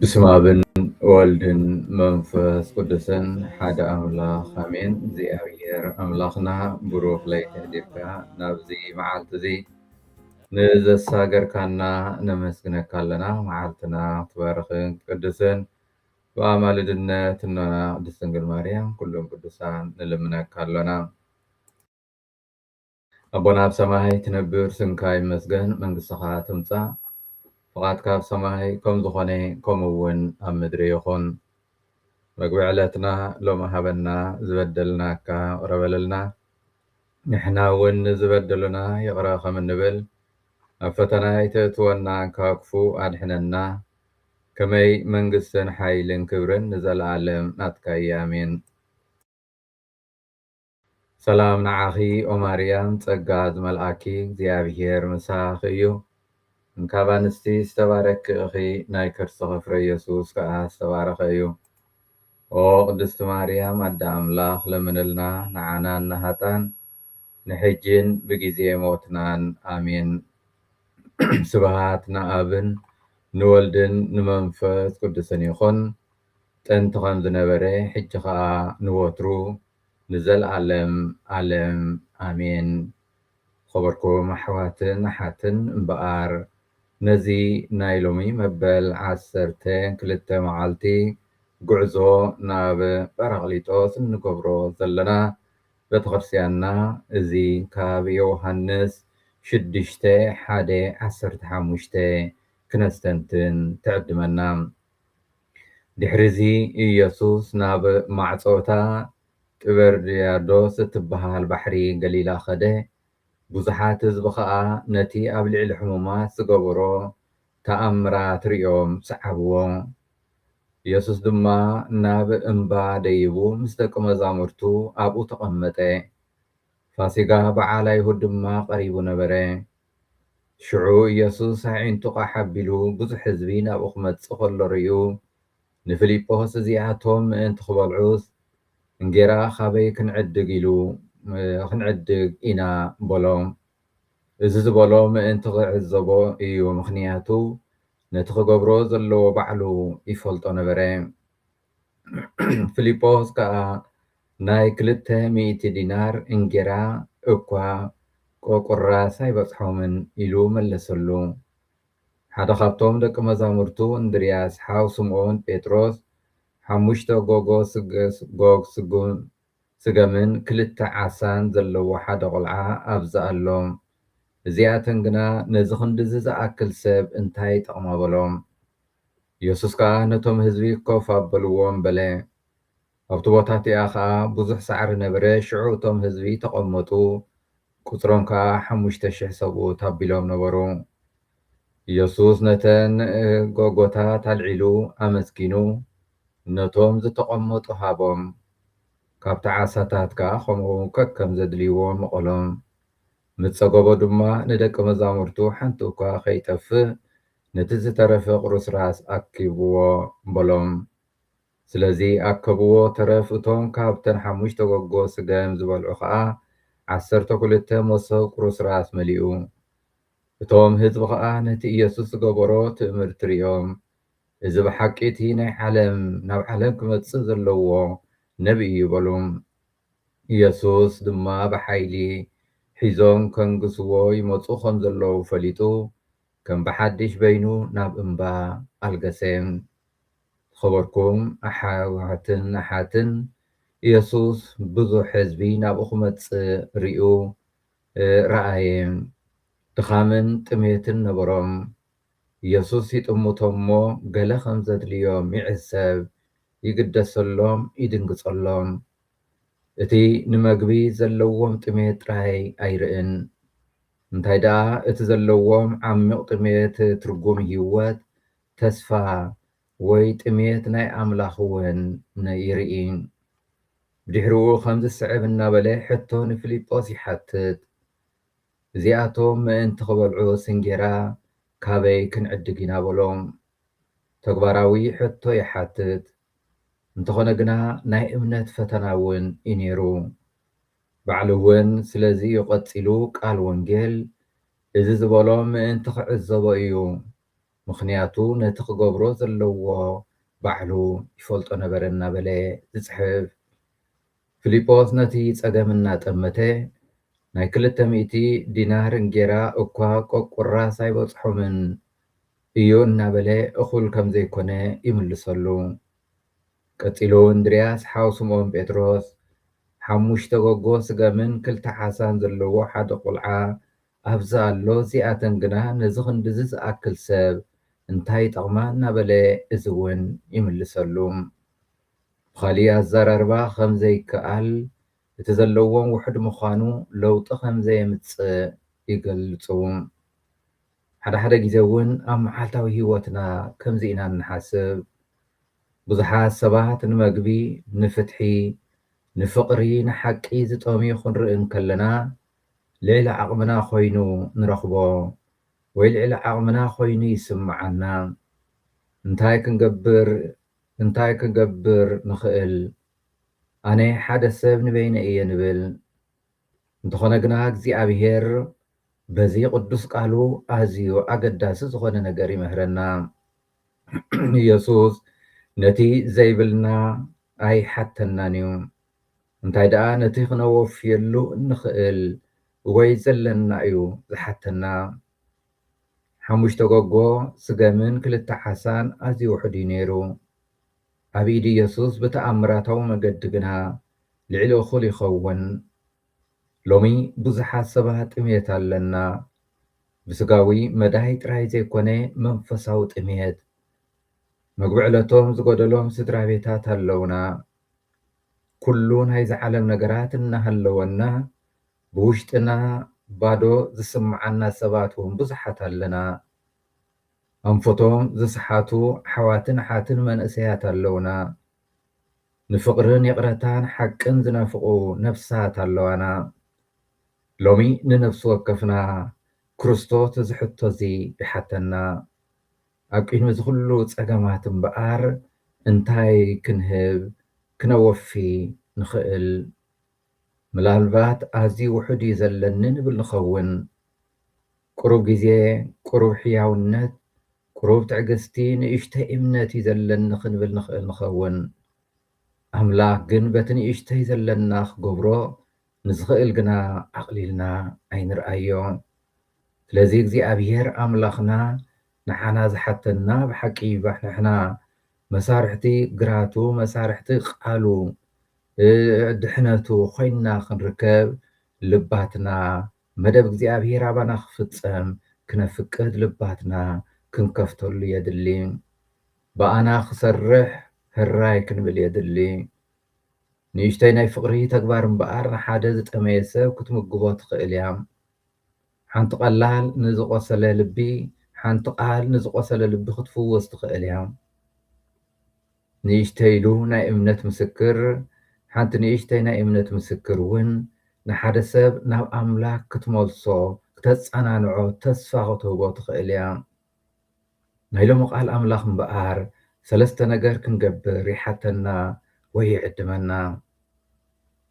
ብስመ ኣብ ወወልድን መንፈስ ቅዱስን ሓደ ኣምላክ ኣሜን እግዚኣብሔር ኣምላክና ብሩክ ለይቲ ኣሕሊፍካ ናብዚ መዓልቲ እዚ ንዘሳገርካና ነመስግነካ ኣለና መዓልትና ክትባርክን ክትቅድስን ብኣማልድነት እኖና ቅድስት ድንግል ማርያም ኩሎም ቅዱሳን ንልምነካ ኣሎና። ኣቦና ኣብ ሰማይ ትነብር ስምካ ይመስገን መንግስትኻ ትምጻእ ፍቓድካ ኣብ ሰማይ ከም ዝኾነ ከምኡ እውን ኣብ ምድሪ ይኹን መግቢ ዕለትና ሎሚ ሃበና ዝበደልናካ ይቕረ በለልና ንሕና እውን ንዝበደሉና ይቕረ ከም እንብል ኣብ ፈተና ኣይተእትወና ካብ ክፉ ኣድሕነና ከመይ መንግስትን ሓይልን ክብርን ንዘለኣለም ናትካ እያ ኣሜን ሰላም ንዓኺ ኦማርያም ጸጋ ዝመልኣኪ እግዚኣብሄር ምሳኺ እዩ እንካብ ኣንስቲ ዝተባረኪ እኺ ናይ ከርስኺ ፍረ የሱስ ከኣ ዝተባረኸ እዩ ኦ ቅድስቲ ማርያም ኣደ ኣምላኽ ለምንልና ንዓናን ንሃጣን ንሕጂን ብጊዜ ሞትናን ኣሜን ስብሃት ንኣብን ንወልድን ንመንፈስ ቅዱስን ይኹን ጥንቲ ከም ዝነበረ ሕጂ ከኣ ንወትሩ ንዘልኣለም ኣለም ኣሜን ዝኸበርኩም ኣሕዋትን ኣሓትን እምበኣር ነዚ ናይ ሎሚ መበል ዓሰርተ ክልተ መዓልቲ ጉዕዞ ናብ ጰራቅሊጦስ እንገብሮ ዘለና ቤተክርስትያንና እዚ ካብ የውሃንስ ሽዱሽተ ሓደ ዓሰርተ ሓሙሽተ ክነስተንትን ትዕድመና ድሕርዚ ኢየሱስ ናብ ማዕጾ እታ ጢበርያዶስ እትበሃል ባሕሪ ገሊላ ኸደ፣ ብዙሓት ህዝቢ ኸኣ ነቲ ኣብ ልዕሊ ሕሙማት ዝገበሮ ተኣምራት ርእዮም ሰዓብዎ። ኢየሱስ ድማ ናብ እምባ ደይቡ ምስ ደቀ መዛሙርቱ ኣብኡ ተቐመጠ። ፋሲጋ በዓል ኣይሁድ ድማ ቀሪቡ ነበረ። ሽዑ ኢየሱስ ኣዒንቱ ቛሕ ኣቢሉ ብዙሕ ሕዝቢ ናብኡ ክመጽእ ከሎ ርእዩ፣ ንፊልጶስ እዚኣቶም ምእንቲ ክበልዑስ፣ እንጌራ ኻበይ ክንዕድግ ኢሉ ክንዕድግ ኢና በሎ። እዚ ዝበሎ ምእንቲ ኺዕዘቦ እዩ፣ ምኽንያቱ ነቲ ኺገብሮ ዘለዎ ባዕሉ ይፈልጦ ነበረ። ፊልጶስ ከኣ ናይ ክልተ ሚእቲ ዲናር እንጌራ እኳ ቈቍራስ ኣይበጽሖምን ኢሉ መለሰሉ። ሓደ ኻብቶም ደቂ መዛሙርቱ እንድርያስ፣ ሓው ስምኦን ጴጥሮስ፣ ሓሙሽተ ጎግ ስጕም ስገምን ክልተ ዓሳን ዘለዎ ሓደ ቁልዓ ኣብዚ ኣሎ። እዚኣተን ግና ነዚ ኽንድዚ ዝኣክል ሰብ እንታይ ይጠቕማ በሎም። የሱስ ከኣ ነቶም ህዝቢ ኮፍ ኣበልዎም በለ። ኣብቲ ቦታ እቲኣ ኸኣ ብዙሕ ሳዕሪ ነበረ፣ ሽዑ እቶም ህዝቢ ተቐመጡ፣ ቍጽሮም ከኣ ሓሙሽተ ሽሕ ሰብኡት ኣቢሎም ነበሩ። ኢየሱስ ነተን ጎጎታት ኣልዒሉ ኣመስጊኑ ነቶም ዝተቐመጡ ሃቦም፣ ካብቲ ዓሳታት ከኣ ከምኡ ከከም ዘድልይዎ መቐሎም። ምስ ጸገቦ ድማ ንደቂ መዛሙርቱ ሓንቲ እኳ ከይጠፍእ ነቲ ዝተረፈ ቁርስራስ ኣክብዎ በሎም። ስለዚ ኣከብዎ ተረፍ እቶም ካብተን ሓሙሽተ ጎጎ ስገም ዝበልዑ ከኣ ዓሰርተ ክልተ መሶብ ቁርስራስ መሊኡ። እቶም ህዝቢ ኸኣ ነቲ ኢየሱስ ዝገበሮ ትእምርቲ ርእዮም እዚ ብሓቂ እቲ ናይ ዓለም ናብ ዓለም ክመጽእ ዘለዎ ነብዪ እዩ በሉ። ኢየሱስ ድማ ብሓይሊ ሒዞም ከንግሥዎ ይመጹ ከም ዘለዉ ፈሊጡ ከም ብሓድሽ በይኑ ናብ እምባ ኣልገሰ። ዝኸበርኩም ኣኃዋትን ኣኃትን ኢየሱስ ብዙሕ ህዝቢ ናብኡ ክመጽእ ርእዩ ረኣየ። ድኻምን ጥሜትን ነበሮም። የሱስ ይጥምቶም እሞ ገለ ኸም ዘድልዮም ይዕዘብ፣ ይግደሰሎም፣ ይድንግጸሎም። እቲ ንመግቢ ዘለዎም ጥሜት ጥራይ ኣይርእን፣ እንታይ ደኣ እቲ ዘለዎም ዓሚቕ ጥሜት ትርጉም ህይወት፣ ተስፋ፣ ወይ ጥሜት ናይ ኣምላኽ እውን ይርኢ። ብድሕሪኡ ኸም ዚስዕብ እናበለ ሕቶ ንፊልጶስ ይሓትት፣ እዚኣቶም ምእንቲ ኺበልዑ ስንጌራ ካበይ ክንዕድግ ኢና? በሎ። ተግባራዊ ሕቶ ይሓትት፣ እንተዀነ ግና ናይ እምነት ፈተና እውን እዩ ነይሩ። ባዕሉ እውን ስለዚ እዩ ቐጺሉ ቃል ወንጌል እዚ ዝበሎ ምእንቲ ኺዕዘቦ እዩ ምኽንያቱ ነቲ ክገብሮ ዘለዎ ባዕሉ ይፈልጦ ነበረ እናበለ ዝጽሕፍ ፊሊጶስ ነቲ ጸገም እናጠመተ ናይ ክልተ ሚእቲ ዲናር እንጌራ እኳ ቆቁራስ ኣይበጽሖምን እዩ እናበለ እኹል ከም ዘይኮነ ይምልሰሉ። ቀጺሉ እንድርያስ ሓው ስምኦን ጴጥሮስ ሓሙሽተ ጎጎ ስገምን ክልተ ዓሳን ዘለዎ ሓደ ቁልዓ ኣብዚ ኣሎ እዚኣተን ግና ነዚ ክንድዚ ዝኣክል ሰብ እንታይ ይጠቕማ እናበለ እዚ እውን ይምልሰሉ። ብኻሊእ ኣዘራርባ ከም ዘይከኣል፣ እቲ ዘለዎም ውሑድ ምዃኑ ለውጢ ከም ዘየምጽእ ይገልጹ። ሓደ ሓደ ግዜ እውን ኣብ መዓልታዊ ህይወትና ከምዚ ኢና እንሓስብ። ብዙሓት ሰባት ንመግቢ፣ ንፍትሒ፣ ንፍቕሪ፣ ንሓቂ ዝጠምዩ ክንርኢ እንከለና፣ ልዕሊ ዓቕምና ኮይኑ ንረኽቦ ወይ ልዕሊ ዓቕምና ኮይኑ ይስምዓና። እንታይ ክንገብር እንታይ ክንገብር ንኽእል? ኣነ ሓደ ሰብ ንበይነይ እየ ንብል። እንተኾነ ግና እግዚኣብሄር በዚ ቅዱስ ቃሉ ኣዝዩ ኣገዳሲ ዝኾነ ነገር ይምህረና። ኢየሱስ ነቲ ዘይብልና ኣይሓተናን እዩ። እንታይ ደኣ ነቲ ክነወፍየሉ እንኽእል ወይ ዘለና እዩ ዝሓተና። ሓሙሽተ ጎጎ ስገምን ክልተ ዓሳን ኣዝዩ ውሑድ እዩ ነይሩ። ኣብ ኢድ ኢየሱስ ብተኣምራታዊ መገዲ ግና ልዕሊ እኹል ይኸውን። ሎሚ ብዙሓት ሰባት ጥምየት ኣለና። ብስጋዊ መዳይ ጥራይ ዘይኮነ መንፈሳዊ ጥምየት። መግቢ ዕለቶም ዝጎደሎም ስድራቤታት ኣለውና። ኩሉ ናይዚ ዓለም ነገራት እናሃለወና ብውሽጥና ባዶ ዝስምዓና ሰባት ውን ብዙሓት ኣለና። ኣንፈቶም ዝሰሓቱ ኣሕዋትን ኣሓትን መንእሰያት ኣለውና። ንፍቕርን ይቕረታን ሓቅን ዝናፍቑ ነፍሳት ኣለዋና። ሎሚ ንነፍሲ ወከፍና ክርስቶስ እዚ ሕቶዚ ይሓተና። ኣብ ቅድሚ እዚ ኩሉ ጸገማት እምበኣር እንታይ ክንህብ ክነወፊ ንኽእል? ምላልባት ኣዝዩ ውሑድ እዩ ዘለኒ ንብል ንኸውን። ቁሩብ ግዜ፣ ቁሩብ ሕያውነት፣ ቁሩብ ትዕግስቲ፣ ንእሽተይ እምነት እዩ ዘለኒ ክንብል ንኽእል ንኸውን። ኣምላኽ ግን በቲ ንእሽተይ ዘለና ክገብሮ ንዝኽእል ግና ኣቕሊልና ኣይንርኣዮ። ስለዚ እግዚኣብሄር ኣምላኽና ንዓና ዝሓተና ብሓቂ ይባሕ ንሕና መሳርሕቲ ግራቱ መሳርሕቲ ቃሉ ድሕነቱ ኮይንና ክንርከብ ልባትና መደብ እግዚኣብሄር ኣባና ክፍጸም ክነፍቅድ ልባትና ክንከፍተሉ የድሊ። ብኣና ክሰርሕ ህራይ ክንብል የድሊ። ንእሽቶይ ናይ ፍቕሪ ተግባር እምበኣር ንሓደ ዝጠመየ ሰብ ክትምግቦ ትኽእል እያ። ሓንቲ ቀላል ንዝቖሰለ ልቢ ሓንቲ ቃል ንዝቖሰለ ልቢ ክትፍውስ ትኽእል እያ። ንእሽቶይ ኢሉ ናይ እምነት ምስክር ሓንቲ ንእሽቶይ ናይ እምነት ምስክር እውን ንሓደ ሰብ ናብ ኣምላኽ ክትመልሶ፣ ክተጸናንዖ፣ ተስፋ ክትህቦ ትኽእል እያ። ናይ ሎሚ ቃል ኣምላኽ እምበኣር ሰለስተ ነገር ክንገብር ይሓተና ወይ ይዕድመና።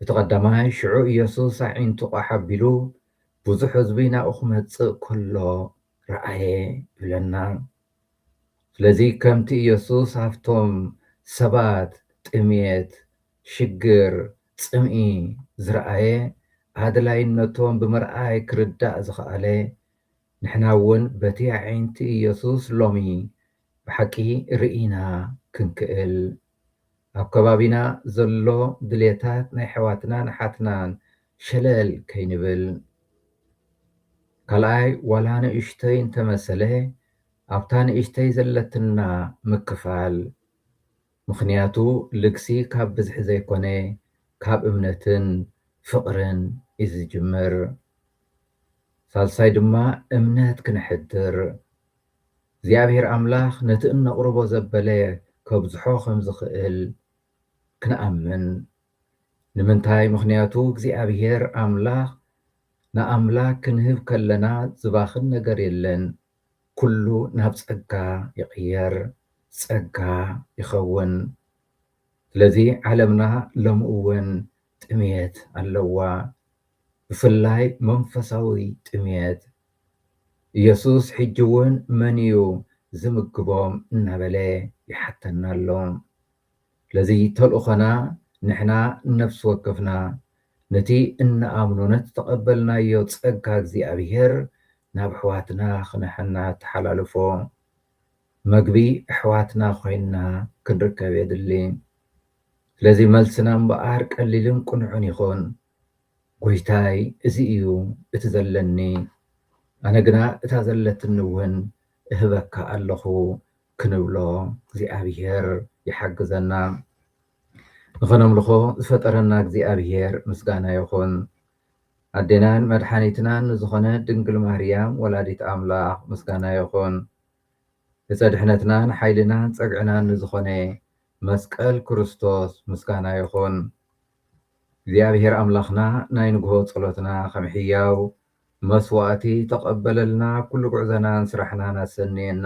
እቲ ቀዳማይ ሽዑ ኢየሱስ ኣዒንቱ ቋሕ ኣቢሉ ብዙሕ ህዝቢ ናብኡ ክመጽእ ከሎ ረኣየ ይብለና። ስለዚ ከምቲ ኢየሱስ ኣብቶም ሰባት ጥምየት፣ ሽግር፣ ጽምኢ ዝረኣየ ኣድላይነቶም ብምርኣይ ክርዳእ ዝኸኣለ፣ ንሕና እውን በቲ ኣዒንቲ ኢየሱስ ሎሚ ብሓቂ ርኢና ክንክእል ኣብ ከባቢና ዘሎ ድልየታት ናይ ኣሕዋትናን ኣሓትናን ሸለል ከይንብል ካልኣይ ዋላ ንእሽቶይ እንተመሰለ ኣብታ ንእሽተይ ዘለትና ምክፋል ምኽንያቱ ልግሲ ካብ ብዝሒ ዘይኮነ ካብ እምነትን ፍቕርን እዩ ዝጅምር። ሳልሳይ ድማ እምነት ክነሕድር እግዚኣብሄር ኣምላኽ ነቲ እነቕርቦ ዘበለ ከብዝሖ ከም ዝኽእል ክንኣምን። ንምንታይ ምኽንያቱ እግዚኣብሄር ኣምላኽ ንኣምላክ ክንህብ ከለና ዝባኽን ነገር የለን ኩሉ ናብ ጸጋ ይቕየር ጸጋ ይኸውን ስለዚ ዓለምና ሎሚ እውን ጥምየት ኣለዋ ብፍላይ መንፈሳዊ ጥምየት ኢየሱስ ሕጂ እውን መን እዩ ዝምግቦም እናበለ ይሓተና ኣሎ። ስለዚ ተልእኾና ንሕና ነፍሲ ወከፍና ነቲ እንኣምኖ ነቲ ዝተቐበልናዮ ጸጋ እግዚኣብሔር ናብ ኣሕዋትና ክነሐናተሓላልፎ። መግቢ ኣሕዋትና ኮይንና ክንርከብ የድሊ። ስለዚ መልስና እምበኣር ቀሊልን ቅኑዕን ይኹን። ጐይታይ እዚ እዩ እቲ ዘለኒ፣ ኣነ ግና እታ ዘለትኒ እውን እህበካ ኣለኹ ክንብሎ እግዚኣብሔር ይሓግዘና ንኸነምልኾ ዝፈጠረና እግዚኣብሔር ምስጋና ይኹን። ኣዴናን መድሓኒትናን ንዝኾነ ድንግል ማርያም ወላዲት ኣምላኽ ምስጋና ይኹን። እፀ ድሕነትናን ሓይልናን ፀግዕናን ንዝኾነ መስቀል ክርስቶስ ምስጋና ይኹን። እግዚኣብሔር ኣምላኽና ናይ ንግሆ ጸሎትና ከም ሕያው መስዋእቲ ተቀበለልና ኩሉ ጉዕዘናን ስራሕናን ኣሰንየና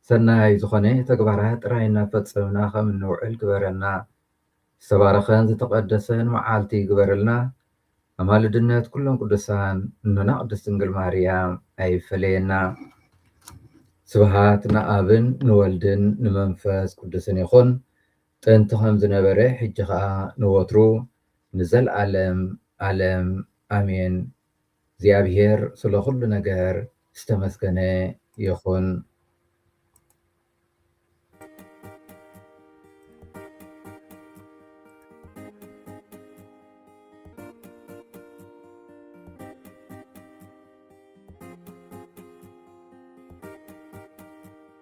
ሰናይ ዝኾነ ተግባራት ጥራይ እናፈጸምና ከም እንውዕል ግበረና ዝተባረኸን ዝተቀደሰን መዓልቲ ይግበረልና ኣማልድነት ኩሎም ቅዱሳን እኖና ቅድስት ድንግል ማርያም ኣይፈለየና ስብሃት ንኣብን ንወልድን ንመንፈስ ቅዱስን ይኹን ጥንቲ ከም ዝነበረ ሕጂ ከኣ ንወትሩ ንዘልኣለም ኣለም ኣሜን እግዚኣብሔር ስለ ኩሉ ነገር ዝተመስገነ ይኩን።